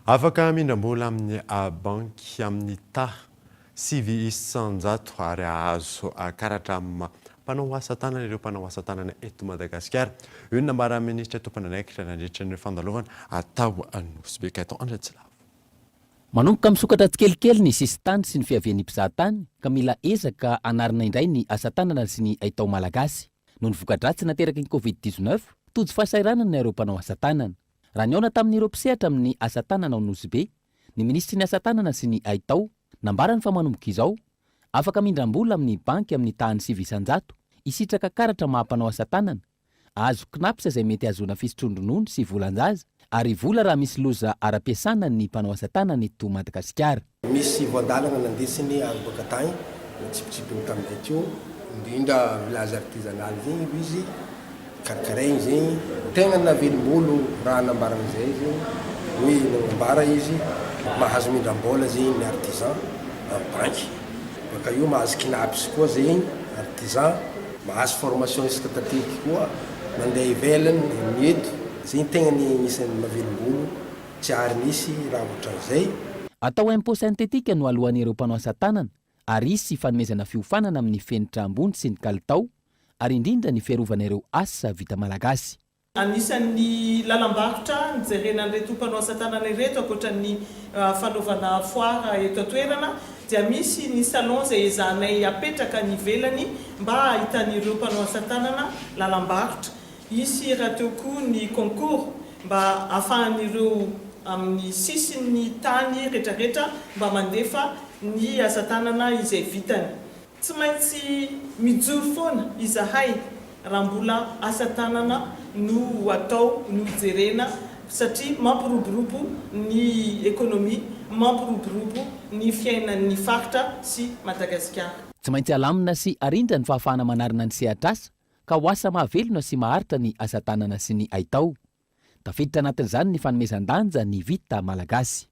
Afaka hamindram-bola amin'ny banky amin'ny taha sivy isan-jato ary hahazo karatra mpanao asa tanana ireo mpanao asa tanana eto Madagasikara. Io no nambaran'ny minisitra tompon'andraikitra nandritra ny fandalovana tao Nosy-Be, Gaëtan Andriatsilavo. Manomboka misokatra tsikelikely ny sisin-tany sy ny fiavian'ny mpizaha tany ka mila ezaka hanarina indray ny asa tanana sy ny haitao malagasy. Noho ny voka-dratsy nateraky ny Covid dix-neuf, tojo fahasahiranana ireo mpanao asa tanana. Raha nihaona tamin'ireo mpisehatra amin'ny asa tanana ao Nosy Be ny minisitry ny asa tanana sy ny haitao, nambarany fa manomboka izao, afaka mindram-bola amin'ny banky amin'ny tahan'ny sivy isan-jato, hisitraka karatra maha mpanao asa tanana, hahazo Cnaps izay mety hahazoana fisotroan-dronono sy volan-jaza, ary vola raha misy loza ara-piasana ny mpanao asa tanana eto Madagasikara. Misy voan-dalana nandesiny avy boaka tagny notsipitsipiny tamin'izay teo. Indrindra village artisanal zegny aloha izy karakaraigny zegny. Tegna navelombolo raha nambarany izay zegny hoe nagnambara izy mahazo mindram-bola zegny ny artisan amin'ny banky. Baka eo mahazo Cnaps koa zegny artisan. Mahazo formation isan-tantely koa mandeha ivelany ny eto. Zegny tegna ny agnisan'ny mavelombolo. Tsy ary nisy raha ohatran'izay. Atao impôt synthétique no aloany ireo mpanao asa tanana ary hisy fanomezana fiofanana amin'ny fenitra ambony sy ny kalitao ary indrindra ny fiarovana ireo asa vita malagasy. Anisan'ny lalam-barotra nijerena an'ireto mpanao asa tanana ireto ankoatra ny fanaovana foire eto an-toerana dia misy ny salon izay ezahanay apetraka any ivelany mba hahitan'ireo mpanao asa tanana lalam-barotra Hisy rahateo koa ny concours mba afahan'ireo amin'ny sisin'ny tany retraretra mba mandefa ny asa tanana izay vitany. Tsy maintsy mijoro foana izahay raha mbola asa tanana no atao no jerena satria mampiroborobo ny economie, mampiroborobo ny fiainan'ny faritra sy Madagasikara. Tsy maintsy alamina sy arindra ny fahafahana manarina ny sehatr'asa ka ho asa mahavelona sy maharitra ny asa tanana sy ny haitao. Tafiditra anatin'izany ny fanomezan-danja ny vita malagasy.